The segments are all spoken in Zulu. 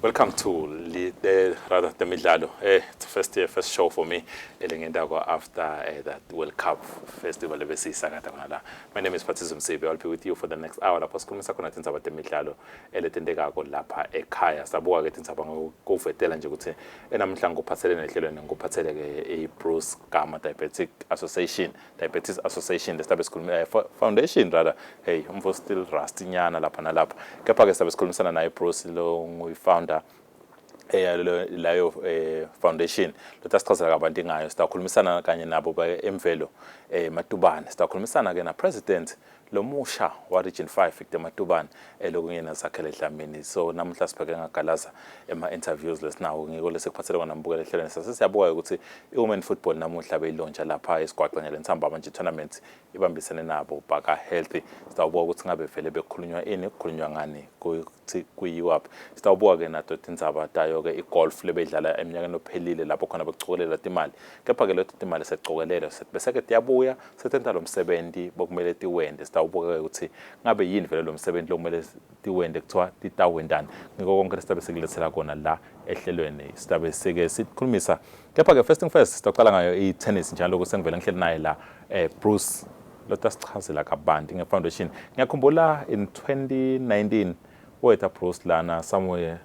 Welcome to the, the rather the midlalo. Eh, it's first year, first show for me. Elengenda go after uh, that World Cup festival ebesiyisakata khona la. My name is Patrice Msebi. I'll be with you for the next hour lapho sikhulumisa khona tindzaba temidlalo eletendekako lapha ekhaya. Sabuka ke tindzaba ngokuvetela nje ukuthi enamhla ngophathelene ehlelweni ngophatheleke i-Bruce Gama Diabetic Association. Diabetes Association lesibe sikhuluma eh, foundation rather hey umfo still rusty nyana lapha nalapha kepha ke sibe sikhulumisana naye Bruce lo nguyi founder leyo eh, foundation lothi asichazela kabanti ngayo sitakhulumisana kanye nabo emvelo eh, matubane sitakhulumisana ke na president Lo musha wa Region 5 Victor Matubane elokhu kuyena zakhele edlamini. So namuhla sibheke ngagalaza ema interviews lesinawo ngiko lesikuphathele kona mbukela ehlelweni sase siyabuka ukuthi iWomen Football namuhla beyilontsha lapha esigwaqa ngale nsambama nje tournament ibambisene nabo Bhaka Healthy. Sitawubuka ukuthi ngabe vele bekukhulunywa ini kukhulunywa ngani ukuthi kuyiwaphi. Sitawubuka ke nato tindzaba tayo ke igolf lebeyidlala eminyakeni ophelile lapho khona bekucokelela timali. Kepha ke leto timali sekucokelelwe bese ke tiyabuya setenta lo msebenzi bokumele tiwente sitawubuka-ke ukuthi ngabe yini vele lo msebenzi lokumele tiwente kuthiwa titawentani ngiko konke lesitabe sikulethela kona la ehlelweni sitabe sike sikhulumisa kepha-ke first thing first sitocala ngayo i-tennis njalo-ke sengivele ngihleli naye la um bruce lotasichazela kabanti nge-foundation ngiyakhumbula in 2019 wetha bruce lana somewhere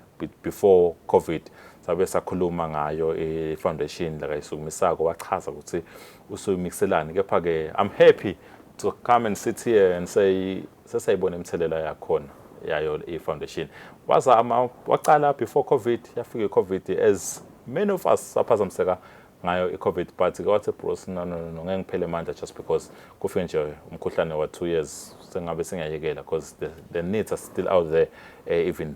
before covid sabe sakhuluma ngayo i-foundation la kayisukumisako wachaza ukuthi usuyimikiselani kepha-ke i'm happy to come and sit here and say sesayibona imithelela yakhona yayo i-foundation wazama waqala before covid yafika i-covid as many of us saphazamiseka ngayo i-covid but ke wathi bros no no no ngeke ngiphele manje just because kufike nje umkhuhlane wa-two years sengabe singayekela because the, the needs are still out there uh, even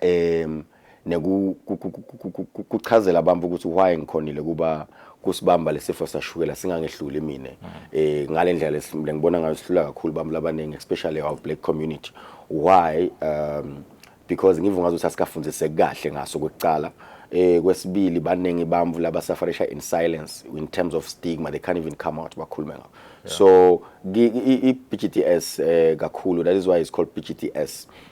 em nekuchazela abantu ukuthi why ngikhonile kuba kusibamba lesifo sashukela singangehluli mina eh ngalendlela lesimile ngibona ngayo sihlula kakhulu abantu labaningi especially our black community why um because ngivungaza ukuthi asikafundiseki kahle ngaso kwekucala eh kwesibili baningi bamvu laba sufferisha in silence in terms of stigma they can't even come out bakhulume ngakho so i-BGTS eh kakhulu that is why it's called BGTS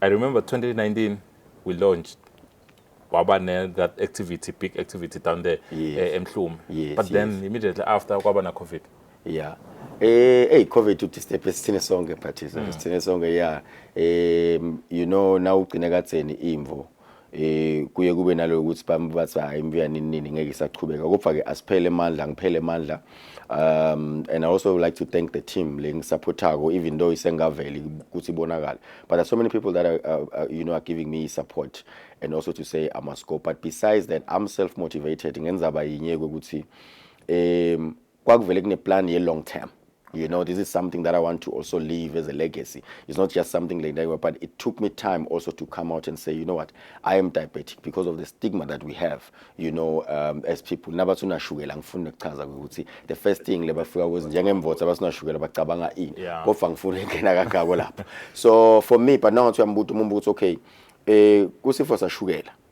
I remember 2019 we launched waba ne that activity big activity down there yes. eh, emhlume yes, but yes. then immediately after kwaba na covid yeah eh hey covid uthi step esithine sonke but mm. sithine sonke yeah um you know now ugcine katheni imvo eh kuye kube naloyo ukuthi bami bathi hayi imbuya nini nini ngeke isachubeka kodwa ke asiphele amandla ngiphele amandla um and i also would like to thank the team lengisupportako even though isengaveli ukuthi ibonakala but there's so many people that are, uh, uh, you know are giving me support and also to say i must go but besides that i'm self motivated ngenzaba yinye ukuthi um kwakuvele kuneplan ye-long term you know this is something that i want to also leave as a legacy it's not just something like that but it took me time also to come out and say you know what i am diabetic because of the stigma that we have you know um, as people nabathi unashukela ngifuna ukuchaza ukuthi the first thing lebafika kuzi njengemvotsa abasinashukela bacabanga ini yeah. kodwa ngifuna ingena kangako lapho so for me but now ngithi uyambuta umuntu ukuthi okay eh kusifo sashukela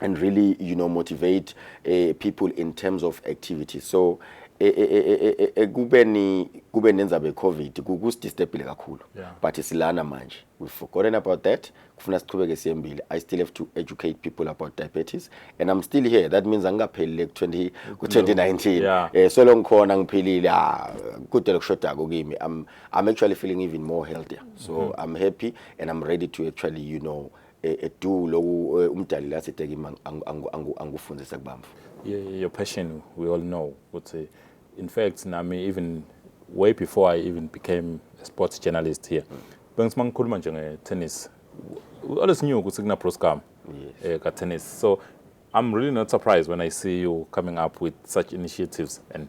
and really you know motivate uh, people in terms of activity so ekubeni eh, eh, kube nenzaba yecovid kukusidisturbile kakhulu yeah. but silana manje we've forgotten about that kufuna siqhubeke siyembile i still have to educate people about diabetes and i'm still here that means angikaphelile ku-20 ku-2019 yeah. eh, so lo ngikhona ngiphilile ah, kude lokushodako kimi I'm, i'm actually feeling even more healthier so mm -hmm. i'm happy and i'm ready to actually you know e, edu loku e, umdali la sithe kimi angikufundisa kubamba your passion we all know ukuthi in fact nami even way before i even became a sports journalist here mm. bengithi mangikhuluma nje nge-tennis always knew ukuthi kunabroscam yes. eh, ka-tennis so i'm really not surprised when i see you coming up with such initiatives and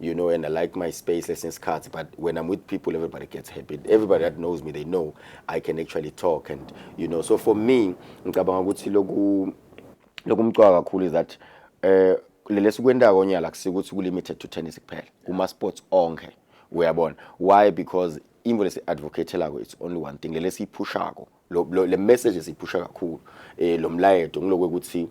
you know, and I like my space since cards. But when I'm with people, everybody gets happy. Everybody that knows me, they know I can actually talk, and you know. So for me, ngicabanga ukuthi loku lokumcwaka kakhulu is that eh lele sikwendako onyala kusikuthi ku limited to tennis kuphela. Kuma sports onke. Uyabona. Why? Because imvo lesi advocateelako it's only one thing lele siyiphushako lo, lo le message siphusha kakhulu eh lo mlayedo ngilokwe ukuthi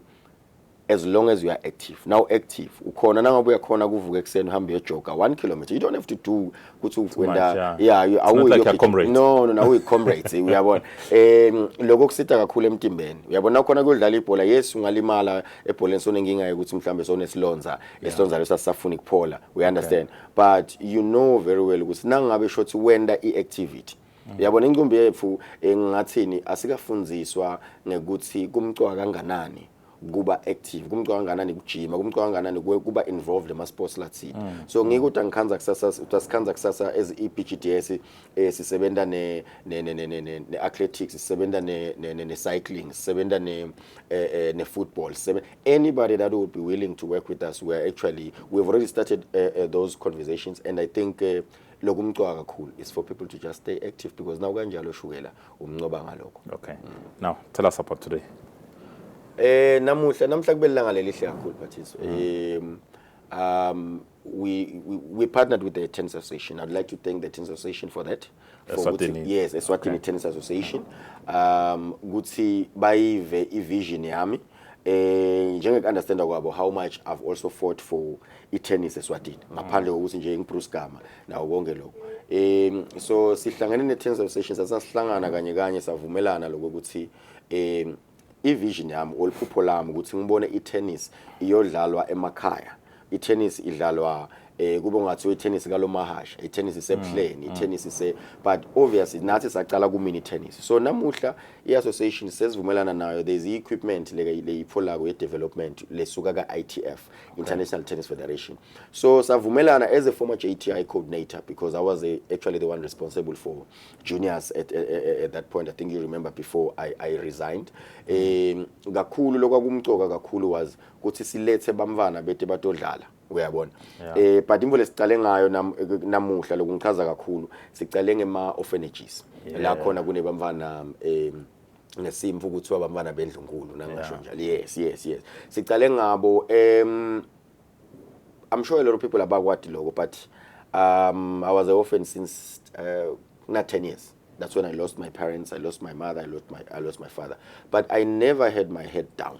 as long as you are active now active ukhona nangabe uyakhona kuvuka ekuseni uhambe uyojoga 1 km you don't have to do ukuthi ukwenda yeah you are like comrade no no no uyi comrades uyabona em lokho kusita kakhulu emtimbeni uyabona khona kudlala ibhola yes ungalimala ebholeni sona ngingaye ukuthi mhlambe sona esilonza esilonza lesasafuna ikuphola we understand but you know very well ukuthi nangabe shothi wenda i activity Uyabona incumbi yethu engathini asikafundziswa ngekuthi kumcwa kanganani kuba active kumcwa kanganani kujima kumcwa kanganani kuba involved ema sports lathini mm. so ngike uthi angikhanza kusasa usikhanza kusasa as i BGDS eh, sisebenza ne ne ne ne ne athletics sisebenza ne ne ne cycling sisebenza ne eh, eh, ne football anybody that would be willing to work with us we are actually we've already started uh, uh, those conversations and i think uh, lokumcwa kakhulu is for people to just stay active because naw kanjalo ushukela umncoba ngalokho okay now tell us about today eh namuhla namhla kube lilanga lelihle kakhulu bathiso um um we, we we partnered with the tennis association i'd like to thank the tennis association for that for ukuthi- Eswatini. yes eswatini Okay. tennis association um ukuthi bayive ivision yami eh njenge understanda kwabo how much I've also fought for i-tennis eSwatini mm. ngaphandle kokuthi nje ngiBruce Gama nawo konke lokho um so sihlangene ne-tennis association sasasihlangana kanye kanye savumelana lokho ukuthi um i-vision yami oluphupho lami ukuthi ngibone i-tennis iyodlalwa emakhaya i-tennis idlalwa eh kube ngathiwa i-tennis kalomahasha i-tennis isebuhleni mm, i-tennis mm. ise but obviously nathi saqala ku mini tennis so namuhla i-association sesivumelana nayo there's i-equipment leyipholako ye-development lesuka ka-ITF International Tennis Federation so savumelana as a former JTI coordinator because I was a, actually the one responsible for juniors at, at, at that point I think you remember before I, I resigned mm. um kakhulu lokwakumcoka kakhulu was kuthi silethe bamfana bete batodlala uyabona yeah. eh but imvo lesicale ngayo nam, namuhla lokungichaza kakhulu sicale ngema orphanages yeah. la khona kunebamfana eh ngesimfu kuthiwa bamfana bendlunkulu nangasho njalo yeah. yes yes yes sicale ngabo em um, i'm sure a lot of people abakwadi lokho but um i was an orphan since uh, not 10 years that's when i lost my parents i lost my mother i lost my i lost my father but i never had my head down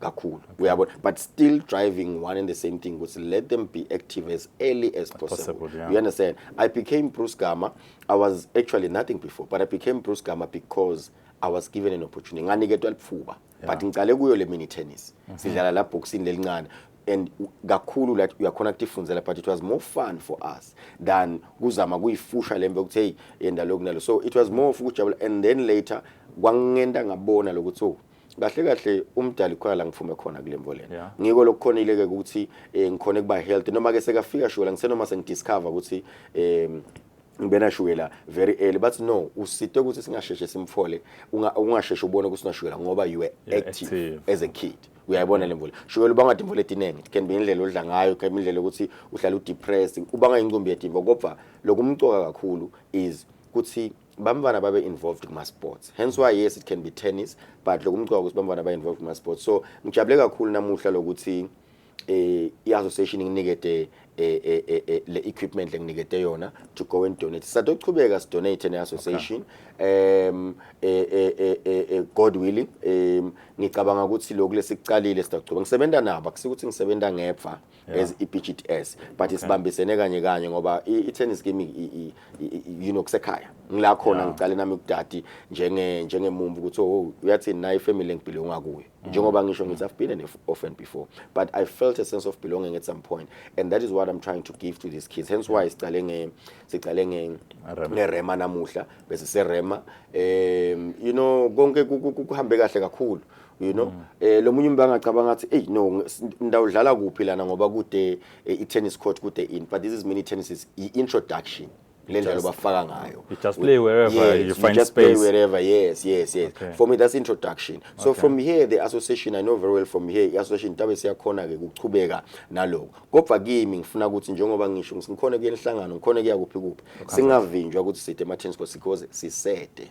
kakhulu uyabona but still driving one and the same thing ukuthi let them be active as early as possible, possible yeah. you understand i became bruce gama i was actually nothing before but i became bruce gama because i was given an opportunity nganiketwa lifuba yeah. but ngicale kuyo le mini tennis mm -hmm. sidlala la boxing lelincane and kakhulu la uyakhona kutifundzela but it was more fun for us than kuzama kuyifusha lembe ukuthi hey yenda lokhu nalo so it was more of ukujabula and then later kwangenta ngabona lokuthi oh kahle kahle umdali khona la ngiphume khona kule mvo lena yeah. ngiko lokukhonile-ke ukuthi um ngikhone kuba healthy noma-ke sekafika shukela ngisenoma sengidiscover ukuthi um ngibena shukela very early bathi no usite ukuthi singasheshe simfole ungasheshe ubone ukuthi unashukela ngoba you were active, active as a kid uyayibona le mvula shukela ubanga imvula etiningi it can be indlela odla ngayo it can be indlela ukuthi uhlala udepressed ubanga incumbi yedimva kodwa lokumcoka kakhulu is ukuthi bamfana babe involved kuma sports hence why yes it can be tennis but lokumcwa ukuthi bamfana ba involved kuma sports so ngijabule kakhulu namuhla lokuthi eh i association inginikede eh, eh, eh, eh le equipment lenginikede yona to go and donate sadochubeka si donate ne association okay. um eh, eh eh eh, eh god willing um ngicabanga ukuthi lokhu lesikuqalile sidakuchubeka ngisebenza nabo akusikuthi ngisebenza ngepha yeah. as i-BGTS but okay. isibambisene kanye kanye ngoba i-tennis game you know kusekhaya ngila khona yeah. ngicale nami kudadi njenge njengemumbi ukuthi oh uyathini nayi family engibhilonga kuyo mm. njengoba ngisho ngithi I've been an orphan before but I felt a sense of belonging at some point and that is what I'm trying to give to these kids hence why siqale nge siqale nge ngerema namuhla bese serema um you know konke kuhambe kahle kakhulu you know mm. eh lomunye umuntu angacabanga ukuthi hey no ndawudlala kuphi lana ngoba kude eh, i-tennis court kude in but this is mini tennis is introduction le ndlela obafaka ngayo you just play wherever yes, you find you just space play wherever yes yes yes okay. for me that's introduction so okay. from here the association i know very well from here i-association tabe siyakhona ke ukuchubeka naloko kodwa kimi ngifuna ukuthi njengoba ngisho ngikhona kuyenihlangano ngikhona kuya kuphi kuphi singavinjwa ukuthi side ema tennis courts because sisede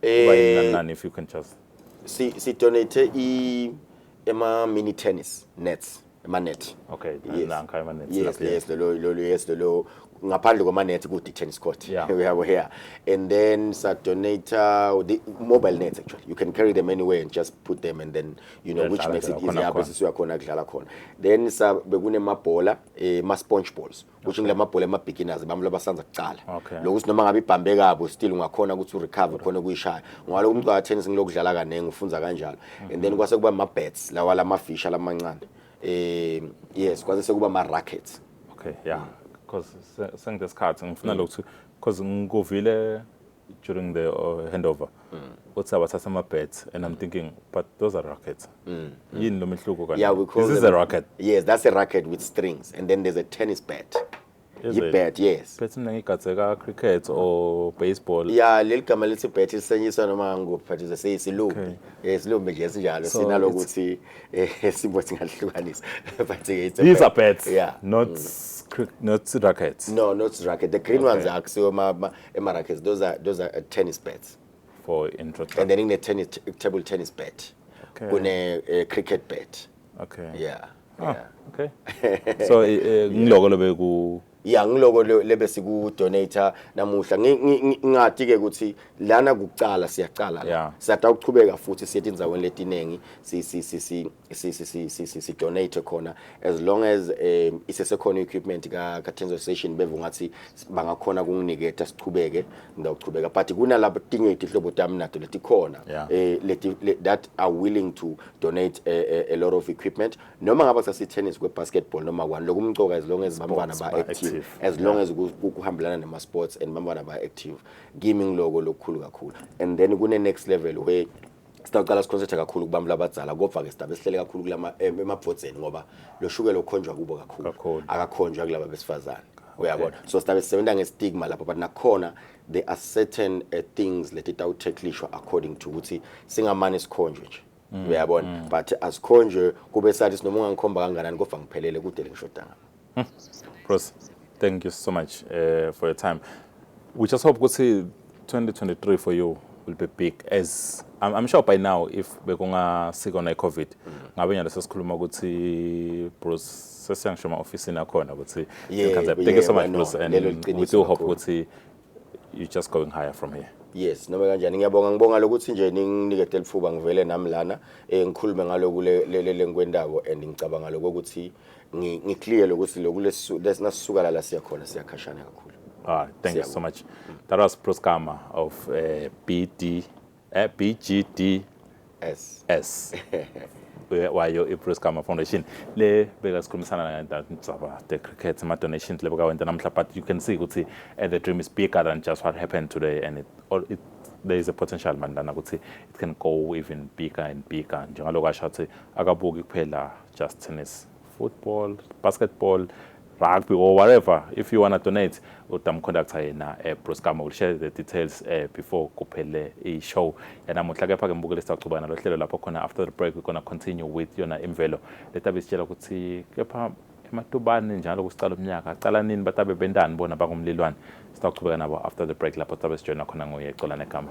kuba yini nani eh, nani if you can just si si donate i ema mini tennis nets ema net okay yes. nanka ema net yes yes lo lo yes lo ngaphandle kwama net ku tennis court yeah. we have here and then sa donate uh, the mobile nets actually you can carry them anywhere and just put them and then you know yeah, which makes it easier bese siyakhona kudlala khona then sa bekune mabhola eh ma sponge balls kusho ngila mabhola ama beginners bami labasanza kuqala Okay. lokuthi noma ngabe ibhambe kabo still ungakhona ukuthi urecover khona ukuyishaya ngoba lokho umculo tennis ngilokudlala kaningi ufunza kanjalo and then kwase kuba ama bats lawa lama fish alamancane eh yes kwase sekuba ama rackets okay yeah because sengidesikhathi ngifuna lokhu because ngikuvile during the uh, handover mm. uthi abathatha ama bets and i'm thinking but those are rackets mm. mm. yini lo mehluko kanti yeah, we call this them, is a racket yes that's a racket with strings and then there's a tennis bat yibet yes bet mina ngigatseka cricket or baseball ya leli gama lithi bet lisenyiswa noma ngikuphi but uze seyisilumbi isilumbi eh, nje sinjalo sinalokuthi eh, sibo singahlukanisa but it's a these are bets yeah not mm. not rackets no not racket the green ones akusiwo Emarakes those are those are uh, tennis bets. For intro track. And then in the tennis table tennis bet. Okay. Kune uh, cricket bet. Okay. Yeah. Ah, yeah. Okay. so eh, eh, ngiloko lobe ku ya ngiloko lebe siku donator namuhla ngingati ke ukuthi lana kucala siyacala la siyata ukuchubeka futhi siyethi inzaweni letiningi si si si si si si si, si, si donate khona as long as um isesekhona equipment ka ka Tenzo station beve ngathi bangakhona kunginiketha sichubeke ngiyawuchubeka but kunalabo tinye itihlobo tami nato letikhona Yeah. eh leti le- that are willing to donate a, a, a lot of equipment noma ngaba sasi tennis kwe basketball noma kwani lokumcoka as long as bantwana ba ba active active. as long as ku- ku- kuhambelana nema sports and bantwana ba active kimi ngiloko lokukhulu kakhulu and then kune next level where sitawucala sikhonsethe kakhulu kubantu labadzala kodwa-ke sidabe sihlele kakhulu kulama em- emabhodzeni ngoba lo shukela ukhonjwa kubo kakhulu Kakhulu. akakhonjwa kulaba besifazane uyabona so sidabe sisebenza ngestigma lapho but nakhona there are certain uh, things leti tawuthekhlishwa according to ukuthi singamane sikhonjwe nje uyabona but asikhonjwe kube sathi sinoma ungangikhomba kanganani kodwa ngiphelele kude lengishodanga Hmm. Pross, thank you so much uh, for your time. We just hope ukuthi 2023 for you will be big as I'm, I'm sure by now if bekungasikona i-covid mm. ngabe nyalo sesikhuluma ukuthi Bruce sesiyangisho ema-ofisini akhona ukuthi yeah, yeah, thank you so much Bruce and we do hope ukuthi you just going higher from here yes noma kanjani ngiyabonga ngibonga lokuthi nje ninginike telifuba ngivele nami lana eh ngikhulume ngaloku lenkwendako and ngicabanga lokho ukuthi ngiclear lokuthi lokhu lesisuka la siya khona siyakhashana kakhulu ah thank you so much that was Proskama of uh, eh, BD eh, BGDS wayo i-Bruce Gama Foundation le beka sikhulumisana ngaba the cricket ama donations le beka wenta namhla but you can see ukuthi uh, the dream is bigger than just what happened today and it, or it there is a potential mani lana ukuthi it can go even bigger and bigger njengaloko asho ukuthi akabuki kuphela just tennis football basketball rugby or whatever if you wanna donate utamconductor yena eh, Bruce Kama will share the details eh, before kuphele i-show yanamuhla kepha-ke mbukele sitawuchuba nalo hlelo lapho khona after the break we're gonna continue with yona imvelo letabe sitshela ukuthi kepha ematubani njalo kusicala umnyaka acala nini batabe bentani bona bangumlilwane sitawuchubeka nabo after the break lapho tabe sijoyina khona nguye cola negama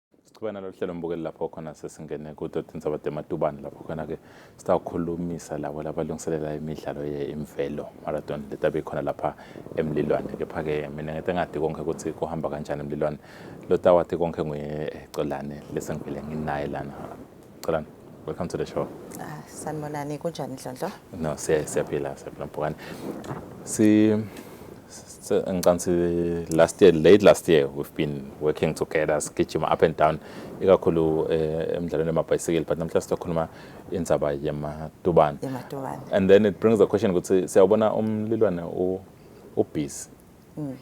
siqhubeka nalolu hlelo mbukeli lapho khona sesingene kudoti inzabade ematubane lapho khona-ke sitawukhulumisa labo labalungiselela imidlalo ye-imvelo marathon le tabe khona lapha emlilwane kepha-ke mina ngete ngati konke ukuthi kuhamba kanjani emlilwane lo tawathi konke nguye ecolane lesengivele nginaye lana Celan, welcome to the show. Ah, sanibonani kunjani Ndlondlo? No, siya siyaphila siyaphila Mpokane. Si ngicabanga si last year late last year we've been working together sigijima up and down ikakhulu eh, emidlalweni yamabhayisikili but namhlanje sizokhuluma indzaba yematubane. Yematubane. And then it brings the question ukuthi siyabona umlilwane u ubhizi. Mm.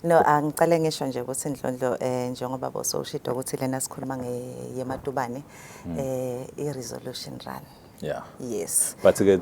No, angicale ngisho nje ukuthi Ndlondlo eh njengoba bosowushida ukuthi lena sikhuluma ngeyematubane hmm. eh i resolution run. Yeah. Yes. But ke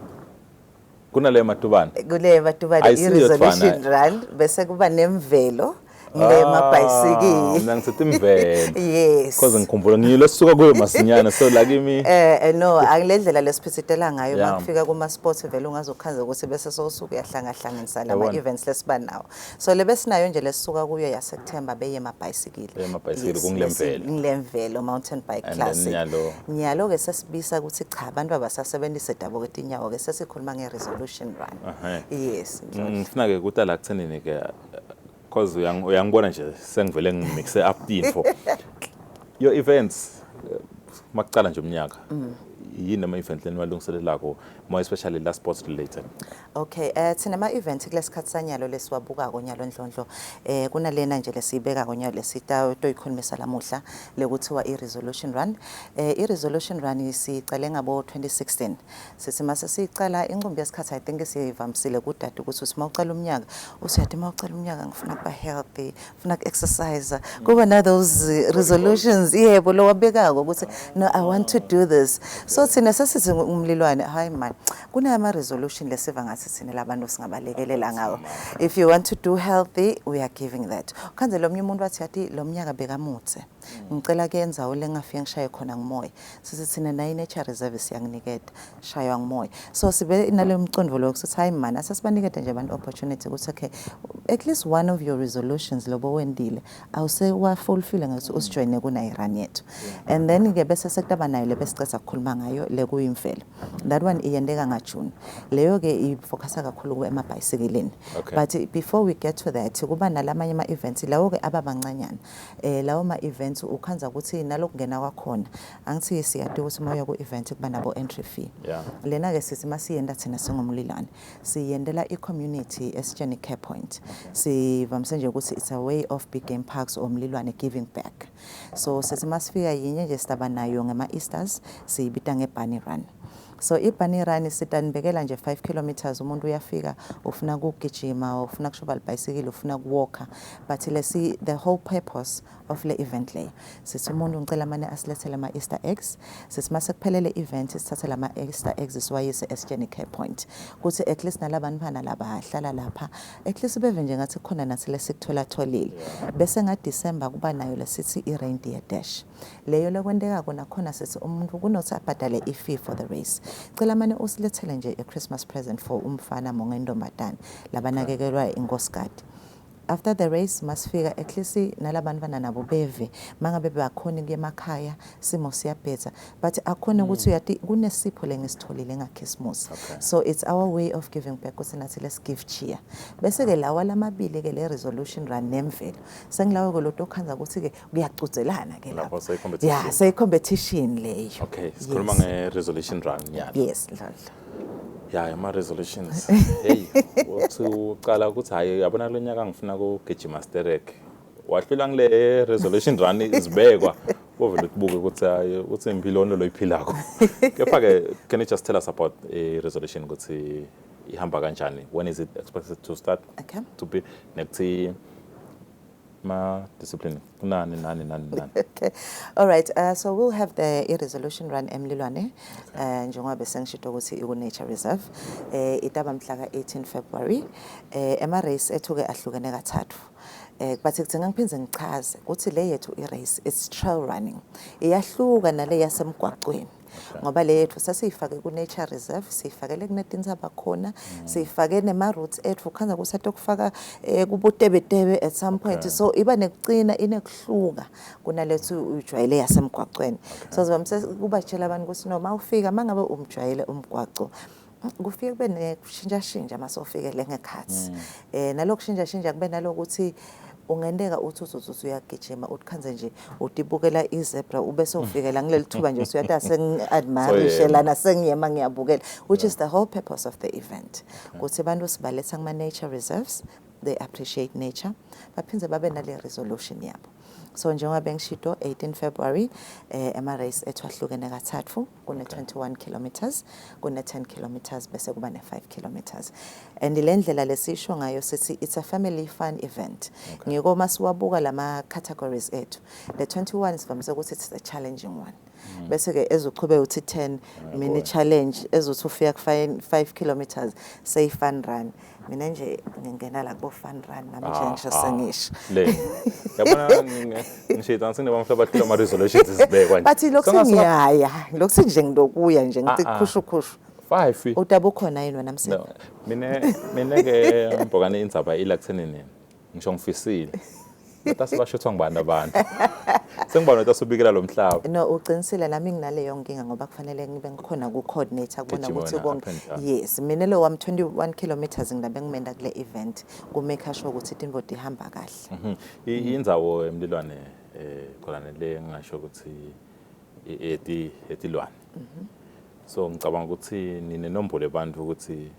kunale matubane. Kule matubane i resolution run bese kuba nemvelo ngemabhayisikili ah, mina ngithatha imvelo yes cause ngikhumbula ngiyilo suka kuyo masinyana so la kimi eh, eh no angilendlela lesiphithitela ngayo makufika kuma sports vele ungazokhanza ukuthi bese sosuku yahlangahlangana Sa lama Yabona. events lesiba nawo so le besinayo nje lesisuka kuyo yasethemba beye mabhayisikile Beye amabhayisikili, kungilemvelo. ngilemvelo mountain bike And then classic nyalo. nyalo ke sesibisa ukuthi cha abantu abasasebenzise dabo ke tinyawo ke sesikhuluma nge resolution run Ehhe. yes Mm, ngifuna ke kutala kuthenini ke Cause uyang- uyangibona nje sengivele ngimixe up info. Your events eh, makuqala nje umnyaka. Yini ama event leni walungiselelako more especially la sports related. Okay, eh thina ama event kulesikhathi sanyalo lesiwabuka konyalo ndlondlo. Eh kunalena nje lesibeka konyalo lesita toyikhulumisa lamuhla lekuthiwa i resolution run. Eh i resolution run siqale ngabo 2016. Sisi mase sicela inqumbi yesikhathi I think siyivamisile kudade ukuthi usima ucela umnyaka usiyathi uma ucela umnyaka ngifuna kuba healthy ngifuna ku exercise kuba na those resolutions yebo lo wabekako ukuthi no I want to do this so thina sesithi umlilwane hayi man kunama resolution lesiva ngathi thina labantu singabalekelela ngawo if you want to do healthy we are giving that khanze lomnye umuntu wathi yathi lomnyaka bekamuthe ngicela kuyenza ule ngafike ngishaye khona ngimoya sithi thina nayo i-nature reserve siyanginiketa shaywa ngimoya so sibe naleyo mcondvo loyo kusithi hhayi mani asesibanikete nje abantu opportunity ukuthi okay at least one of your resolutions lobo wendile awusewafulfile ngathi usijoyine kuna-iran yethu and then-ke bese sekutaba nayo le besiceza kukhuluma ngayo le kuyimvelo that one iyenteka ngajuni leyo-ke ifocusa kakhulu emabhayisikilini but before we get to that kuba nalamanye ama-events lawo-ke aba mancanyana eh lawo ma events ukhanza ukuthi nalokungena kwakhona angithi siyati ukuthi moya ku event kuba nabo entry fee yeah. lena ke sithi masiyenda thina singomlilane siyendela i community esitsheni care point okay. sivamse nje ukuthi it's a way of big game parks or mlilwane giving back so sithi masifika yinye nje sitaba nayo ngema easters siyibita nge bunny run So ibunny run sithi anibekela nje 5 kilometres umuntu uyafika ufuna ukugijima or ufuna kushoba libhayisikile ufuna ukuwalker but lesi the whole purpose of le event leyo sithi umuntu ngicela mane asilethele ama Easter eggs sithi mase kuphelele event sithathe lama Easter eggs siwayise esitsheni care point kuthi at least nalabantu bana laba hlala lapha at least beve nje ngathi khona nathi lesikuthola tholile bese nga December kuba nayo lesithi i reindeer dash leyo lekwenteka kona khona sisi umuntu kunothi abhadale i-fee for the race cela mane usilethele nje i-christmas present for umfana monga intombazane labanakekelwa inkosikati after the race masifika at least nalabantu bananabo beve mangabe bakhona kuye emakhaya simo siyabhedza but akhona ukuthi mm. uyati kunesipho lengisitholile ngakhisimusi so it's our way of giving back ukuthi nathi let's give cheer bese-ke lawa lamabili-ke le resolution run nemvelo sengilawe-ke lo tokhanza ukuthi-ke kuyacuzelana ke lapho ya seyicompetition leyo okay sikhuluma nge-resolution run nyana yes dlodlo ya ama-resolutions heyi uthi ucala ukuthi hhayi yabona kulo nyaka ngifuna kugijima sterek wahlula ngile resolution run izibekwa kovele kubuke ukuthi hayi uthi impilo onto loyiphilako kepha-ke can you just tell us about i-resolution ukuthi ihamba kanjani when is it expected to start okay. to be nekuthi ma discipline kunani nani nani nani okay all right uh, so we'll have the i resolution run emlilwane okay. uh, njengoba besengishito ukuthi iku nature reserve eh uh, itaba mhla ka 18 February eh uh, ema race ethuke ahlukene kathathu eh but ngicela ngiphinde ngichaze ukuthi le yethu i race it's trail running iyahluka nale yasemgwaqweni ngoba le yethu sesiyifake ku-nature reserve siyifakele kunetinsaba khona mm. siyifake nema-roots ethu khanza kusathi okufaka um eh, kubutebetebe at some point okay. so iba nekucina inekuhluka kunalethi uyijwayele yasemgwaqweni okay. so ziba mse kubatshela abantu ukuthi noma ufika uma ngabe umjwayele umgwaco kufike kube nekushintshashintsha uma sofikele ngekhathi um mm. eh, nalokhu kushintshashintsha kube nalokuthi ungenteka uthi uzozuthi uyagijima uthikhanze nje utibukela izebra ube sewufikela mm. ngileli thuba nje usuyathi asengi-admirishe lana sengiyema ngiyabukela which is the whole purpose of the event mm. ukuthi abantu sibaletha kuma-nature reserves they appreciate nature baphinde babe nale resolution yabo so njengoba bengishito 18 February eh ema race ethu ahlukene kathathu kune-21 kilometers kune-10 kilometers bese kuba ne-5 kilometers and le ndlela lesisho ngayo sithi it's a family fun event okay. ngiko uma siwabuka lama-categories ethu le 21 sivamise ukuthi it's a challenging one mm. bese ke ezochube uthi 10 mini challenge ezothi ufika ku 5 kilometers say fun run mina nje ngingena la kubo fun run nami nje ngisho ah, ah. sengisho le yabona ngisho idansi ne bamhla bahlula ama resolutions izibekwa nje bathi lokhu ngiyaya lokhu nje ngilokuya nje ngithi ah, khushu khushu five udaba ukhona yini wena msebenzi mina mina ke mbhokane indzaba ila kuthenini ngisho ngifisile Notasi bashuthwa ngubani abantu sengiba notasi ubikela lo mhlaba no uqinisile nami nginaleyo nkinga ngoba kufanele ngibe ngikhona ku-coordinator kubona ukuthi konke yes mina lo wami 21 kilometers ngilabe ngimenda kule event kumake sure ukuthi tinvo ihamba kahle mhm. inzawo emlilwane eh khona le ngingasho ukuthi eti etilwane mhm. so ngicabanga ukuthi nine nombolo abantu ukuthi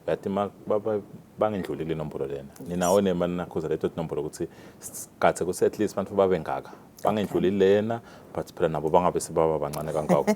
But ma bangindlulile inombolo lena. Ninawo nema nakhuza leto tinombolo ukuthi sikathe ku at least abantu babe ngaka. Bangindlulile lena but phela nabo bangabe sebaba bancane kangako.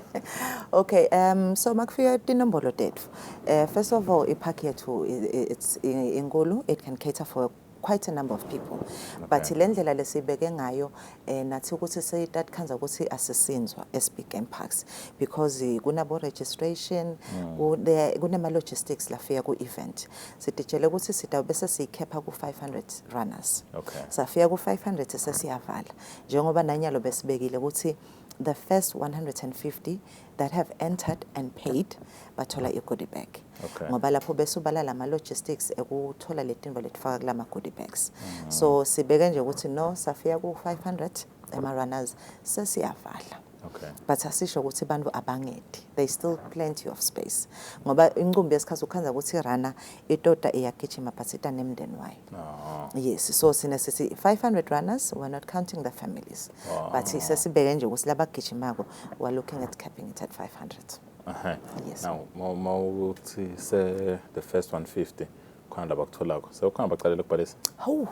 Okay, um so makufika tinombolo tethu. Uh, first of all, ipark yethu it's inkulu, it can cater for quite a number of people okay. but le ndlela lesibeke ngayo eh, nathi ukuthi seyitatkhanza ukuthi asisinzwa eSpeak Game Parks because eh, kunabo registration mm. kunema logistics lafika ku event sidijele ukuthi sida bese siyikhepha ku 500 runners okay. safika ku 500 sesiyavala njengoba nanyalo besibekile ukuthi the first 150 that have entered and paid bathola i goodie bag okay. ngoba lapho bese ubala lama logistics ekuthola letimbo letifaka kulama goodie bags mm. so sibeke nje ukuthi no safiya ku 500 ema runners sesiyavala Okay. But asisho ukuthi abantu abangedi. They still plenty of space. Ngoba inqumbi yesikhathi ukhanza ukuthi runner itota iyagijima but ita nemndeni wayo. Oh. Yes, so sine sithi 500 runners we're not counting the families. Oh. But sesibeke nje ukuthi labagijimako we're looking at capping it at 500. Aha. Yes. Now, ma- ma ukuthi se the first 150 khona la bakutholako. Sewukhona baqalela ukubhalisa. Hawu.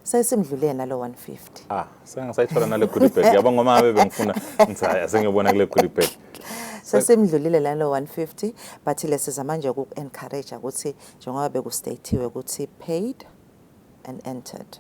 Sesimdlulele nalo 150. Ah, sengisayithola nale goodie bag. Yabo ngoma ngabe bengifuna ngithi hayi asengiyobona kule goodie bag. Sesimdlulile lalo 150 but lesiza manje uku encourage ukuthi njengoba bekustathiwe ukuthi paid and entered.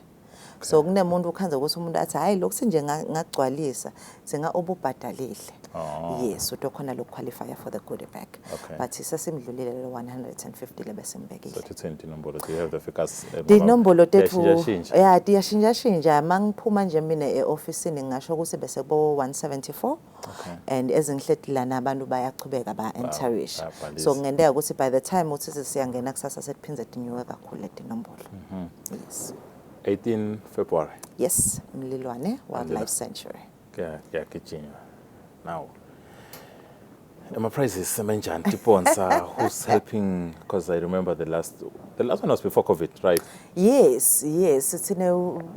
so kunemuntu ukhanza ukuthi umuntu athi hayi lokhu sinje ngagcwalisa singa ububhadalile oh. yes uto khona lo qualify for the goodie bag okay. but sesimdlulile le 150 lebesimbekile so thithini inombolo do you have the figures eh, dinombolo tethu yeah tiyashintsha shintsha mangiphuma nje mina eoffice ngingasho ukuthi bese bo 174 Okay. and ezinhletilana abantu bayachubeka ba-enterish Bayabhalisa. so kungenteka ukuthi by the time uthi sesiyangena kusasa sekuphinde dinyuke kakhulu le tinombolo Mhm. yes 18 February yes mlilwane wildlife sanctuary kuya- kuyagijinywa now ama-prices semenjani tiponsa who's helping because i remember the last the last one was before covid right yes yes sine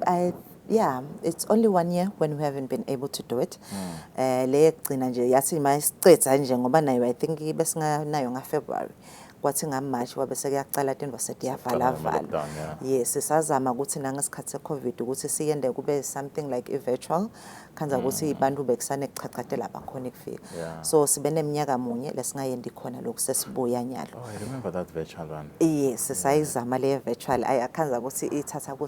i Yeah, it's only one year when we haven't been able to do it. Mm. Eh le yekugcina nje yathi mayisicetha nje ngoba nayo I think besinganayo nga February. Kwathi nga March wabe sekuyaqala into set yavala vala. Yes, sisazama ukuthi nangesikhathi se Covid ukuthi siyende kube something like a virtual khanza hmm. ukuthi abantu bekusane kuchachate lapha khona kufika. So sibe neminyaka munye lesingayendi khona lokhu sesibuya nyalo. Oh, I remember that virtual one. Yes, sisayizama le virtual. Ayakhanza ukuthi ithatha ku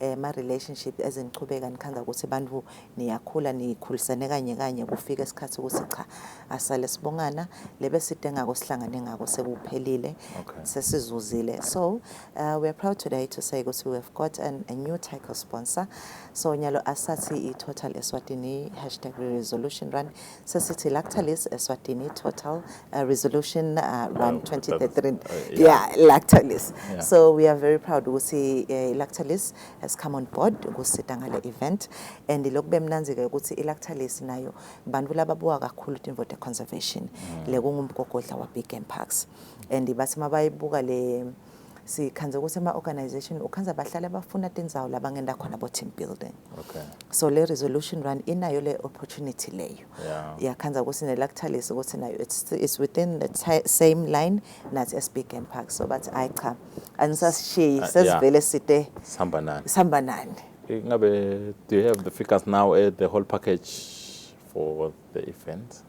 eh, ma relationship ezinichubeka nikhanga ukuthi abantu niyakhula nikhulisene kanye kanye kufika isikhathi ukuthi cha asale sibongana lebe side ngako sihlangane ngako sekuphelile okay. sesizuzile so uh, we are proud today to say ukuthi we have got an, a new title sponsor so nyalo asathi i-total eswatini hashtag resolution run sesithi lactalis eswatini eh, total uh, resolution uh, run 2033 uh, yeah, lactalis yeah. so we are very proud ukuthi uh, lactalis has come on board kusita ngale event and lokube mnanzike ukuthi ilactalis nayo bantu lababuka kakhulu timvote conservation mm. le kungumgogodla wa big game parks and bathi mabayibuka le sikhandze ukuthi ema-organization ukhandza bahlale bafuna tindzawo labangenta khona bo-team building okay. so le resolution run inayo le opportunity leyo yakhandza yeah. ukuthi nelakuthalisa ukuthi nayo it's, it's within the same line nathi esbigam park so bathi ayi cha anisasishiyi ah, sesivele site sihamba nani sihamba nani ingabe do you have the figures now at the whole package for the event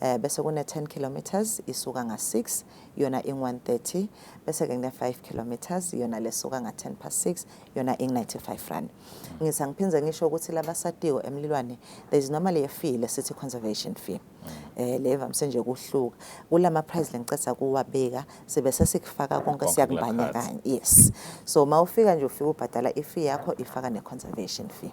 eh bese kune 10 kilometers isuka nga 6 yona ing 130 bese ke kune 5 kilometers yona lesuka nga 10 past 6 yona ing 95 rand ngisa ngiphindze ngisho ukuthi labasatiwe emlilwane there is normally a fee lesithi conservation fee eh leva msenje kuhluka kulama price lengicetha kuwabeka sibe sesikufaka konke siyakubanya kanye yes so mawufika nje ufika ubhadala i fee yakho ifaka ne conservation fee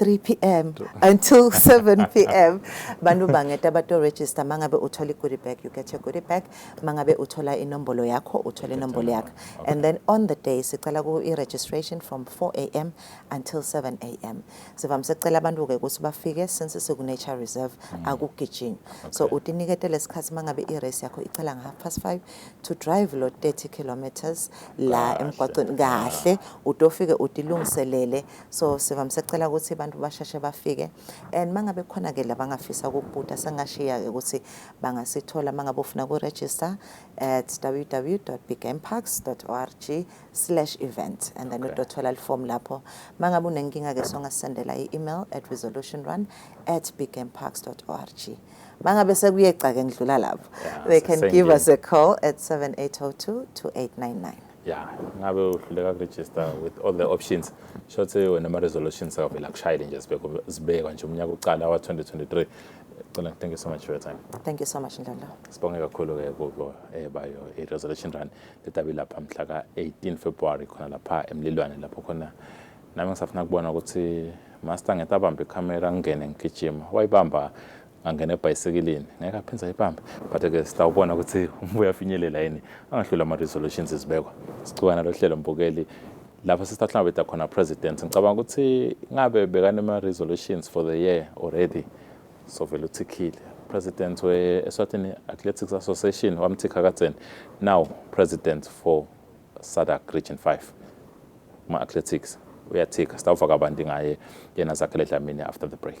3 pm until 7 pm bantu bangeta bato register mangabe uthola i-goodie bag you get your goodie bag mangabe uthola inombolo yakho uthola inombolo yakho okay. and then on the day sicela i-registration from 4 am until 7 am sivamise kucela abantu-ke ukuthi bafike since siku-nature reserve mm. akugijinywa okay. so utinikete lesikhathi mangabe i-race yakho icela nga-half past 5 to drive lo 30 kilometers la emgwaqweni kahle utofike utilungiselele so sivamise kucela ukuthi abantu basheshe bafike and mangabe khona ke labangafisa ukubuta sengashiya ke ukuthi bangasithola mangabe ufuna ku register at www.biggameparks.org/event and then utothola okay. iform lapho mangabe unenkinga ke songasendela i-email at resolutionrun@biggameparks.org mangabe sekuyeca ke ngidlula lapho yeah, they can give us a call at 7802 2899 ya ngabe uhluleka kuregister with all the options shothi wena ama-resolutions akavele akushayele nje zibekwa nje umnyaka uqala wa-2023 cela thank you so much for your time thank you so much ndlala sibonge kakhulu-ke kubo eh, bayo i-resolution run letabi lapha mhla ka-18 february khona lapha emlilwane lapho khona nami ngisafuna kubona ukuthi master ngetabamba ikhamera ngingene ngigijima wayibamba angena ebhayisekilini ngeke aphinde ayibambe but ke sitawubona ukuthi umbuye uyafinyelela yini angahlula ama-resolutions ezibekwa sicukana lo hlelo mbukeli lapho sesithahlangabeda khona president ngicabanga ukuthi ngabe bekanema-resolutions for the year already sovele uthikhile president we-eswatini athletics association wamthikha kadzeni now president for sadak region 5 kuma-athletics uyathika sitawuva kabanti ngaye yena zakhele dlamini after the break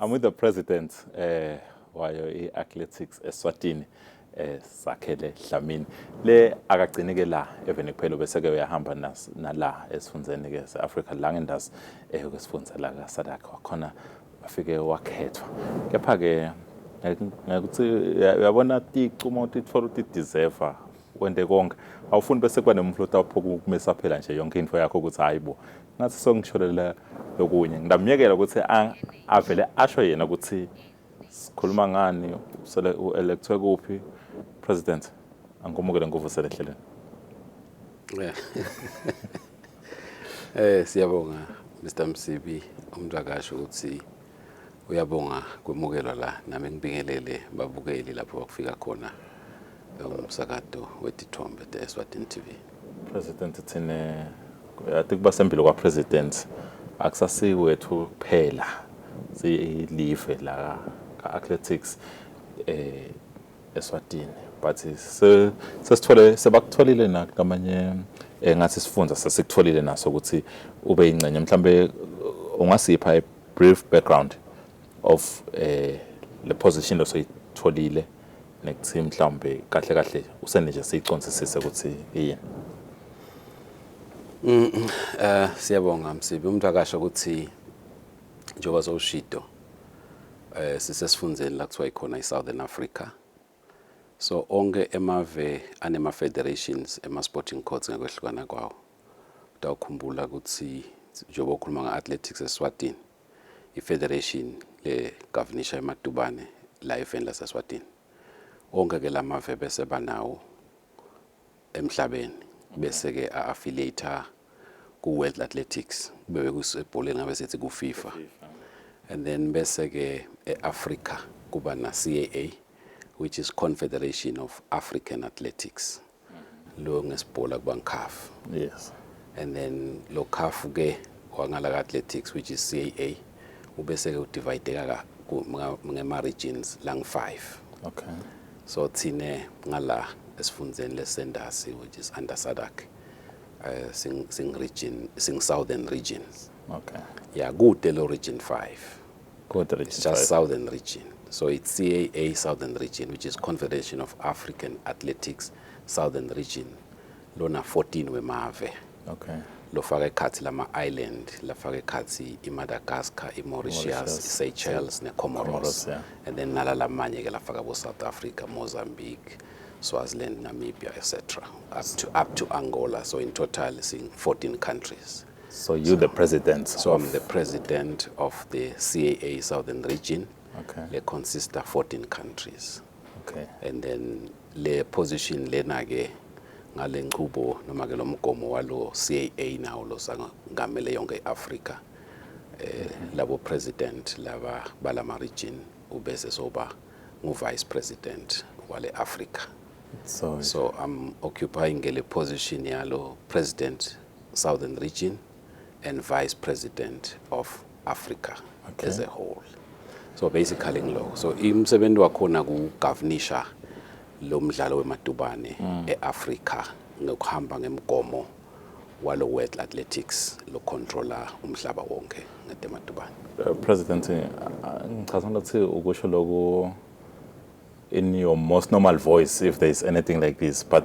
I'm with the president eh wayo iathletics eSwatini eh sakhele Dlamini le akagcini ke la evene kuphela bese ke uyahamba nas nala esifundzeni ke seAfrica la ngendazi eh kwesifundza la kaSadak wakhona afike wakhethwa kepha ke ngikuthi uyabona ticumo tithola uti deserve wende konke awufuni bese kuba nemuntu lotawuphoka ukumisa phela nje yonke into yakho ukuthi hayibo ngathi songitsholela lokunye ngidamyekela ukuthi avele asho yena ukuthi sikhuluma ngani usele uelectwe kuphi president angumukele nguvusele ehlelweni eh siyabonga Mr Msibi umntwakasho ukuthi uyabonga kwemukelwa la nami ngibingelele babukeli lapho bakufika khona umsakato wetithombe the Eswatini TV president thina ati kuba sembilo kwa president akusasiwethu kuphela silive la ka athletics eh eSwatini but sesithole sebakutholile nakamanye eh, ngathi sifunda sesikutholile naso ukuthi ube ingcenye mhlambe ungasipha a brief background of eh le position osoyitholile nekuthi mhlawumbe kahle kahle usene nje siyiconzisise ukuthi yini mm, mm, eh siyabonga msibi umuntu akasho ukuthi njengoba zowushido eh sisesifundeni la kuthiwa ikhona iSouthern Africa so onke emave anema federations ema sporting courts ngekwehlukana kwawo utawukhumbula ukuthi njengoba ukhuluma nge-athletics eswatini iFederation leGavinisha eMatubane la eveni laseSwatini. Onke ke lamave bese banawo emhlabeni bese ke affiliate ku World Athletics bebe kusebholeni ngabe sithi ku FIFA. And then bese ke eAfrica kuba na CAA which is Confederation of African Athletics. lo ngesibhola kuba ngikhafu yes and then lo khafu ke wangala ka athletics which is CAA ubese ke udivideka ka ngema regions lang 5 okay so thina ngala esifundzeni lesendasi which is under sadak uh, eh, sing, sing region sing southern regions okay ya kude lo region 5 It's just Southern Region. So it's CAA Southern Region, which is Confederation of African Athletics Southern Region. Lona 14 wemave. Okay. lofaka ekhathi lama-island lafaka ekhathi i-madagascar i-mauritius i-seychelles ne-comoros yeah. and then nala lamanye ke lafaka bo-south africa mozambique swaziland namibia etc up to, up to angola so in total sing 14 countries So you're the president. So of I'm the president of the CAA Southern Region. Okay. Le consists of 14 countries. Okay. And then le position lena ke ngale nqubo noma ke lomgomo walo CAA nawo losangamele yonke iAfrica. Eh mhm. labo president laba balama region ubese soba ngu vice president wale Africa. So, so I'm occupying le position yalo president Southern Region and Vice President of Africa okay. as a whole. So basically ngiloko. So imsebenzi wakhona kugovernisha lo mdlalo wemadubane mm. eAfrica ngokuhamba ngemgomo walo World Athletics lo controller umhlaba wonke ngetemadubane. Uh, President uh, ngichaza ngathi ukusho lokho in your most normal voice if there is anything like this but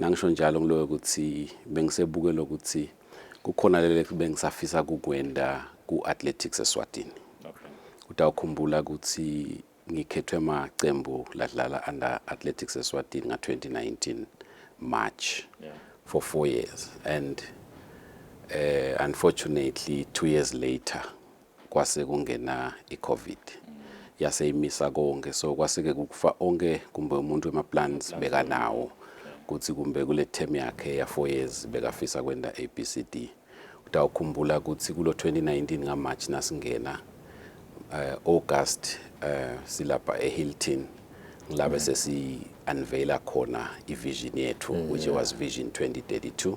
Ngangisho njalo ngiloyo ukuthi bengisebuke lokuthi kukhona lele bengisafisa kukwenda ku-athletics eswatini utawukhumbula ukuthi ngikhethwe amaqembu ladlala under athletics eswatini nga-2019 march yeah. for four years and uh, unfortunately two years later kwase kungena iCovid yase imisa konke so kwaseke kukufa onke kumbe umuntu wemaplans bekanawo kuthi kumbe kule term yakhe ya 4 years bekafisa kwenda ABCD utawukhumbula ukuthi kulo 2019 ngaMarch nasingena uh, August uh, silapha eHilton ngilabe mm. sesi unveila khona ivision yethu mm, which yeah. was vision 2032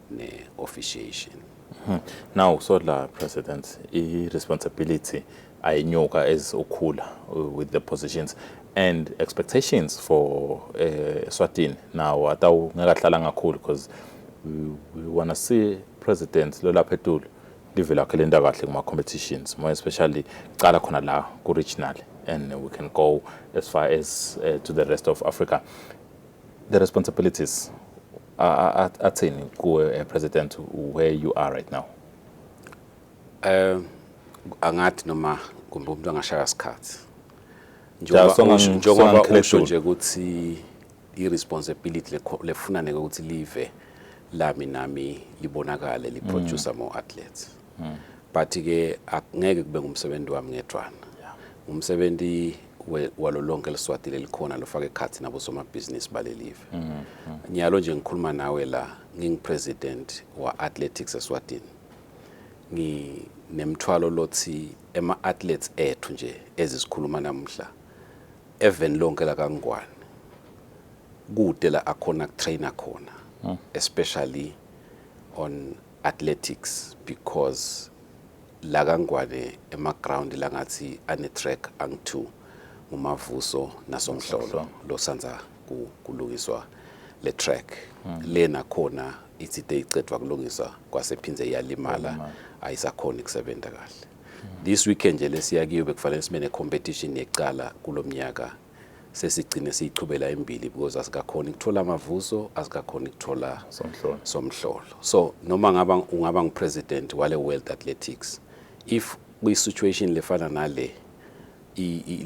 ne-officiation hmm. now so la president i-responsibility ayinyuka as ukhula uh, with the positions and expectations for uh, Swatini now atawu ngekahlala ngakhulu because we, we want to see president lolapha etulu live lakhe lenta kahle kuma competitions more especially cala khona la ku regional and we can go as far as uh, to the rest of Africa the responsibilities athini kuwe eh, president where you are right now um angathi noma kumbe umuntu angashaya sikhathi njengoba usho nje ukuthi i-responsibility lefunane ukuthi live lami nami libonakale liproducer mm. more athletes hmm. but ke akungeke kube ngumsebenzi wami ngedwana umsebenzi walo lonke liswati lelikhona lofaka ekhathi nabo somabhizinisi balelive hmm, hmm. nyalo nje ngikhuluma nawe la ngingipresident wa athletics eswatini ngi nemthwalo lothi ema athletes ethu nje ezisikhuluma namhla even lonke la kangwane kude la akhona trainer khona hmm. especially on athletics because la kaNgwane emaground la ngathi ane-track angi-two nguMavuso naSomhlolo losandza ku- kulungiswa le track le nakhona ithi te icedwa kulungiswa kwasephinde iyalimala ayisakhoni kusebenza kahle this weekend nje lesiya kiyo bekufanele sibe ne-competition yekucala kulo mnyaka sesigcine siyichubela embili because asikakhona ukuthola amavuso asikakhona ukuthola somhlolo somhlolo so noma ngaba ungaba ngupresident wale world athletics if kuyisituation lefana nale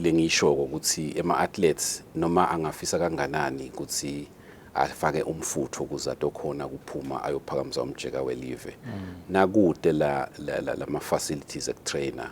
lengiyishoko ukuthi ema athletes noma angafisa kanganani ukuthi afake umfutho ukuze atokhona kuphuma ayophakamisa umjeka welive mm. nakude la lama facilities ekutrainer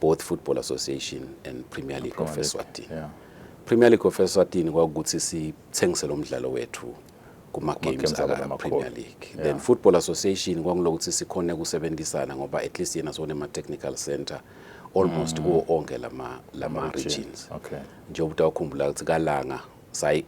both Football Association and Premier League of Eswatini. Yeah. Premier League of Eswatini kwakuthi sithengise lo mdlalo wethu kuma games aka Premier League. Yeah. Then Football Association kwakulokuthi sikhone kusebenzisana ngoba at least yena sone ma technical center almost mm. kuwo onke lama lama regions. Okay. Njengoba ukhumbula ukuthi kalanga sayi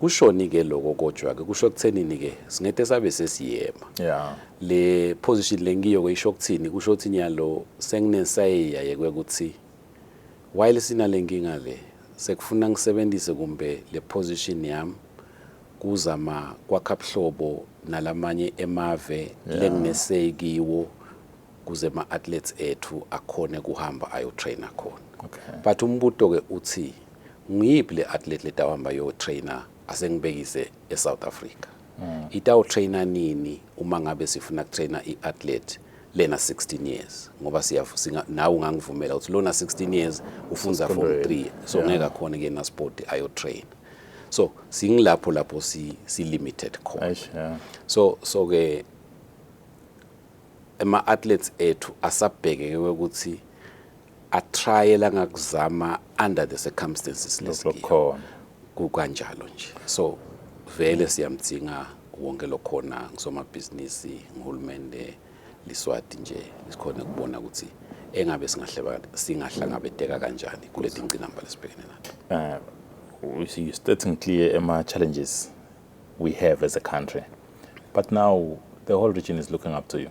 kushoni ke loko kodwa ke kusho kuthenini ke singete sabe sesiyema yeah le position lengiyo ke isho kuthini kusho ukuthi nyalo senginesayeya yekwe ukuthi while sina lenkinga le sekufuna ngisebenzise kumbe le position yami kuzama kwakha buhlobo nalamanye emave lenginesay kiwo kuze ama athletes ethu akhone kuhamba ayo trainer khona okay. but umbuto ke uthi nguyiphi le athlete letawuhamba yo trainer asengibekise eSouth Africa mm. itawu trainer nini uma ngabe sifuna ku trainer iathlete lena 16 years ngoba siyafusinga nawe ungangivumela ukuthi lona 16 years ufunza form 3 so ngeke akhona kuyena sport ayo train so singilapho lapho si si limited khona so so ke ama athletes ethu asabheke ukuthi a trial angakuzama under the circumstances lesikhona kukanjalo nje so vele siyamdzinga wonke lokhona ngusomabhizinisi nguhulumende liswati nje sikhona kubona ukuthi engabe singahleba singahlangabeteka kanjani kuleti ngcinamba lesibhekene nazo eh, we see you stating clear ama challenges we have as a country but now the whole region is looking up to you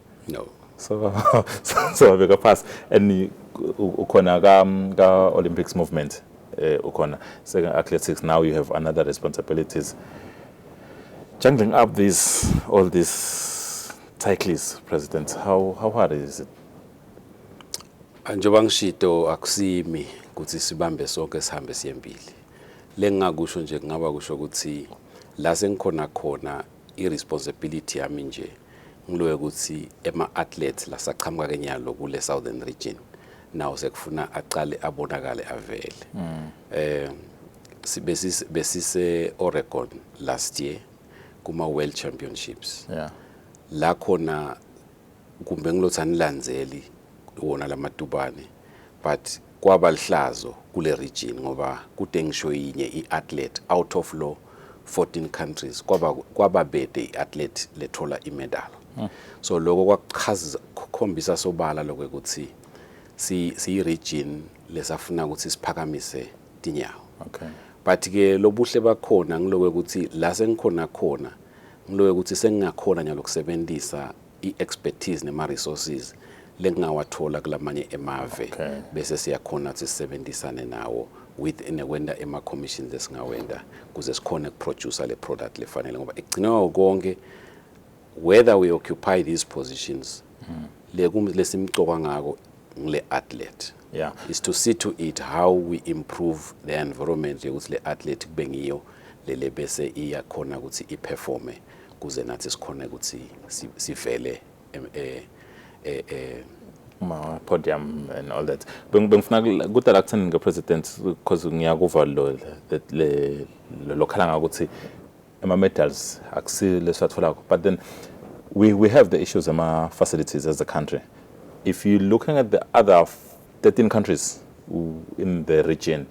no so so, so beka pass and ukhona ka ka Olympics movement eh ukhona seka athletics now you have another responsibilities juggling up these all these cyclists president how how hard is it njengoba ngishito akusimi ukuthi sibambe sonke sihambe siyembili lengingakusho nje kungaba kusho ukuthi la sengikhona khona i-responsibility yami nje ngiloye ukuthi ema-athletes lasaqhamuka kenyalo kule southern region nawo sekufuna aqale abonakale avele mm. eh besise besise Oregon last year kuma world championships yeah la khona kumbe ngilothi anilandzeli wona lamatubane but kwaba lihlazo kule region ngoba kude ngisho yinye i-athlete out of law 14 countries kwaba kwaba bede iathlete lethola imedal hmm. so lokho kwakuchaza khombisa sobala lokho ukuthi si si region lesafuna ukuthi siphakamise tinyawo okay but ke lobuhle bakhona ngilokwe ukuthi la sengikhona khona ngilokwe ukuthi sengingakhona nyalo kusebenzisa i-expertise nema-resources lengingawathola kulamanye emave okay. bese siyakhona ukuthi sisebenzisane nawo with nekwenda ema commissions esingawenda kuze sikhone ukuproducer le product lefanele ngoba ekugcinwa konke whether we occupy these positions mm. le kum lesimcoka ngako ngile athlete yeah is to see to it how we improve the environment yokuthi le athlete kube ngiyo lele bese iyakhona ukuthi iperforme kuze nathi sikhone ukuthi sivele eh, eh, eh, ma podium and all that bengifuna kude la kutheni nge president because ngiyakuva lo le lokhala ngakuthi ama medals akusile sathola but then we we have the issues ama facilities as a country if you looking at the other 13 countries in the region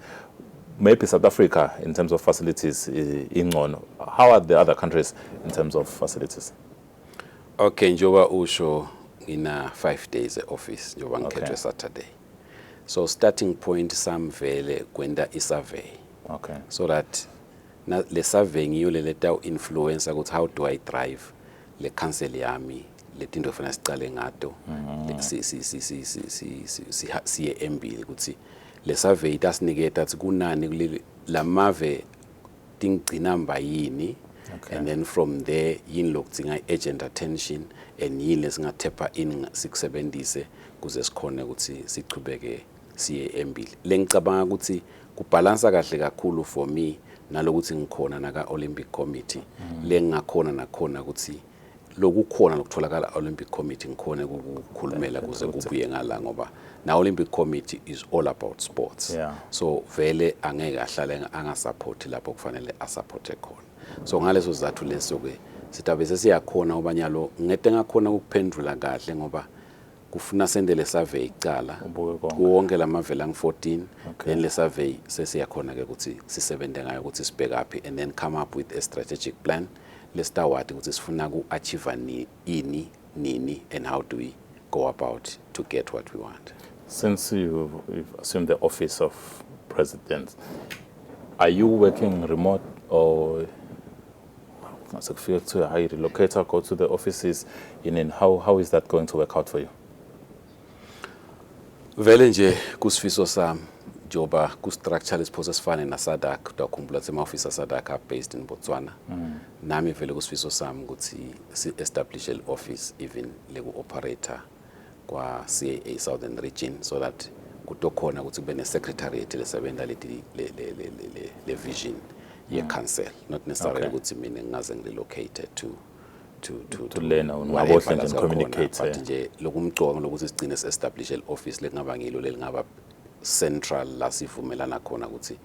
maybe South Africa in terms of facilities ingcono how are the other countries in terms of facilities okay njoba usho ngina 5 days eoffice njoba ngikhethwe okay. Saturday so starting point sam vele kwenda i survey okay so that na le survey ngiyo le leta influencer ukuthi how do i drive le council yami letinto fanele sicale ngato mm-hmm. siye embili kutsi lesavey tasiniketa tsi kunani lamave tingigcina mba yini okay. and then from there yini lokudzinga i-agent attention and yini lesingathepha ini sikusebenzise kuze sikhone ukuthi sichubeke siye embili lengicabanga ukuthi kubhalansa kahle kakhulu for me nalokuthi ngikhona naka-olympic committee mm. lengingakhona nakhona ukuthi lokukhona lokutholakala Olympic Committee ngikhone ukukhulumela kuze kubuye ngala ngoba na Olympic Committee is all about sports yeah. so vele angeke ahlale angasupporti lapho kufanele asupporte khona so ngaleso sizathu leso ke sitabe sesiyakhona obanyalo ngete ngakhona ukuphendula kahle ngoba kufuna sende le survey kucala kuwonke la mavele angu-14 okay. then le survey sesiyakhona-ke ukuthi sisebenze ngayo ukuthi sibhekaphi and then come up with a strategic plan lesitawati ukuthi sifuna ku-achieve ni, ini nini and how do we go about to get what we want since you've, you've assumed the office of president are you working remote or mase kufike kuthiwe hayi relocate go to the offices yinini how, how is that going to work out for you vele nje kusifiso sami njengoba ku-structure lesiphoso esifane nasadak kodwa ukhumbula ukuthi ama-ofisi asadak abased in botswana mm. nami vele kusifiso sami ukuthi si-establishe le-office even leku-operator kwa-CAA Southern Region so that kutokhona ukuthi kube ne-secretariat lesebenta le-vision ye-council not necessarily ukuthi mina ngingaze ngirelocate to to to to lena ungabohle nje communicate but nje lokumcoka lokuthi sigcine se-establish le-office lekungaba ngilo lelingaba central la sivumelana khona ukuthi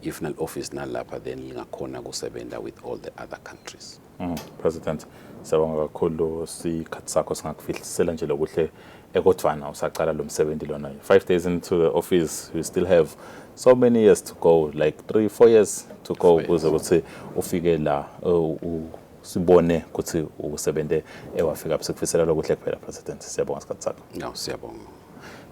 if nal-office nalapha then lingakhona kusebenza with all the other countries Mm, President siyabonga kakhulu sikhathi sakho singakufihlisela nje lokuhle ekodvana usacala lo msebenzi lona five days into the office we still have so many years to go like three four years to go ukuze ukuthi ufike la uh, sibone ukuthi usebenze ewafika sikufisela lokuhle kuphela president siyabonga sikhathi sakho no siyabonga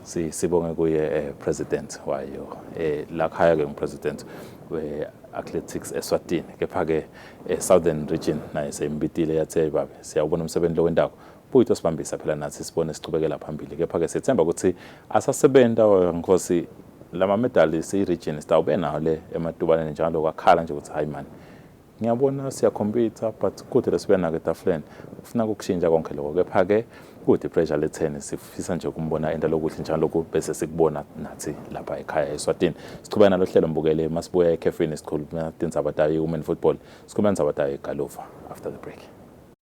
si sibonge kuye eh, president wayo eh, la khaya ke ngipresident we athletics eSwatini kepha ke eh, southern region naye seyimbitile yathi hey babe siyawubona umsebenzi lo wendawo buyi tosibambisa phela nathi sibone siqhubekela phambili kepha ke sethemba ukuthi asasebenta nkosi lama medali seyi region sitawube nawo le ematubaneni njalo kwakhala nje ukuthi hayi mani Ngiyabona siyakhompitha but kude lesibuyana-ke etafuleni ufuna kukushintsha konke lokho kepha-ke kude ipressure letheni sifisa nje ukumbona enda lokuhle njalo lokhu bese sikubona nathi lapha ekhaya eswatini siqhubeka nalo hlelo mbukele uma sibuya ekhefini sikhuluma tindzaba tayo i-women football sikhuluma indzaba tayo igaluva after the break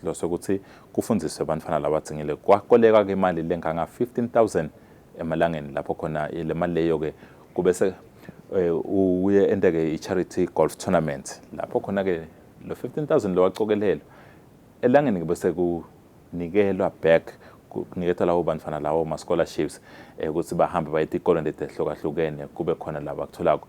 Sihlose ukuthi kufundiswe abantfwana labadzingile kwakoleka ke imali lenganga 15000 emalangeni lapho khona le mali leyo ke kubese eh, uye ente ke i-charity golf tournament lapho khona ke lo 15000 lowacokelelwa elangeni ke bese kunikelwa back kuniketwa labo bantfwana lawo ma-scholarships eh, ukuthi bahambe baye tikolweni letehlukahlukene kube khona laba kutholako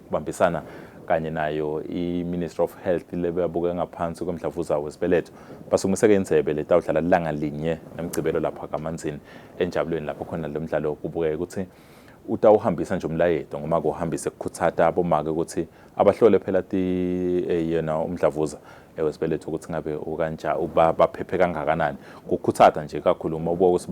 ukubambisana kanye nayo i-ministry of health le beyabuke ngaphansi komdlavuza wesibeletho basukumiseke indlebe letawudlala lilanga linye ngemgcibelo lapha kamanzini enjabulweni lapho khona lo mdlalo kubukeke ukuthi utawuhambisa nje umlayeto ngoma kuhambise kukhutsata abomake ukuthi abahlole phela ti eh, yena umdlavuza eh, wesibeletho ukuthi ngabe ukanja uba baphephe kangakanani kukhutsata nje kakhulu uma ubuka ukuthi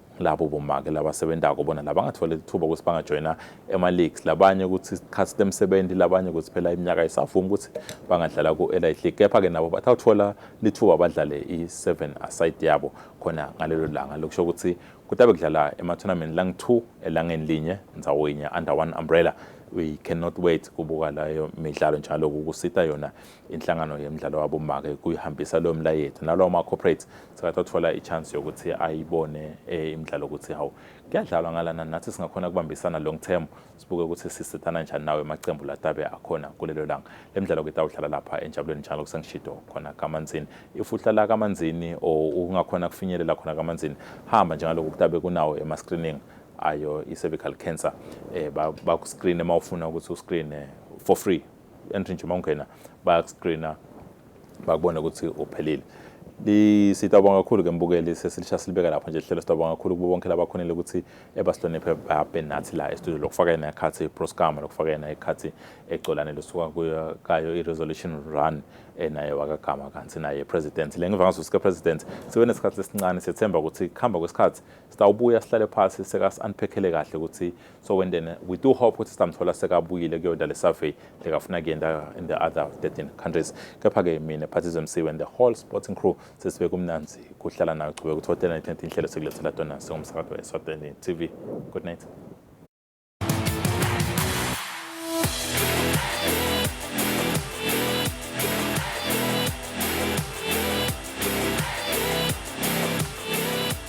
labo bomake labasebentako bona labangatfole lithuba ukuthi bangajoyina ema-leagues labanye ukuthi sikhathi sitemsebenti labanye ukuthi phela iminyaka isavumi ukuthi bangadlala ku-elite league kepha-ke nabo bathawuthola lithuba badlale i-seven aside yabo khona ngalelo langa lokusho ukuthi kutabe kudlala emathonameni langi-two elangeni linye ndzawo yinye under one umbrella we cannot wait kubuka layo midlalo njalo kukusita yona inhlangano yemidlalo wabomake kuyihambisa leyo mlayethi nalawo ma-corporate sekathi athola i-chance yokuthi ayibone eh, imidlalo ukuthi hawu kuyadlalwa ngalana nathi singakhona ukubambisana long term sibuke ukuthi sisethana njani nawe emacembu latabe akhona kulelo langa le midlalo kitawudlala lapha enjabulweni njalo kusengishido khona kamanzini if uhlala kamanzini or ungakhona kufinyelela khona kamanzini hamba njengalokhu kutabe kunawo ema-screening ayo i-cervical cancer um eh, bakuscreene uma ufuna ukuthi uscreene for free entry nje uma ungena bayakuscreena bakubone ukuthi uphelile sitawubonga kakhulu ke mbukeli sesilisha silibeka lapho nje lihlelo sitawubonga kakhulu kubo bonke labakhonile ukuthi ebasihloniphe babe nathi la estudio lokufaka yena ikhathi proscama lokufaka yena ikhathi ecolane lusuka kuyo kayo i-resolution run enaye wakagama kanti naye president le ngiva ngazo sika president sibe nesikhathi esincane sethemba ukuthi kuhamba kwesikhathi sitawubuya sihlale phasi seka-unphekhele kahle ukuthi so when then we do hope ukuthi sizamthola sekabuyile kuyona le survey lekafuna kuyenda in the other 13 countries kepha-ke mina phathizo mc when the whole sporting crew sesibe kumnanzi kuhlala nayo chube ukuthi hotela nethenti inhlelo sekulethela tona singumsakazi we-eswatini tv good night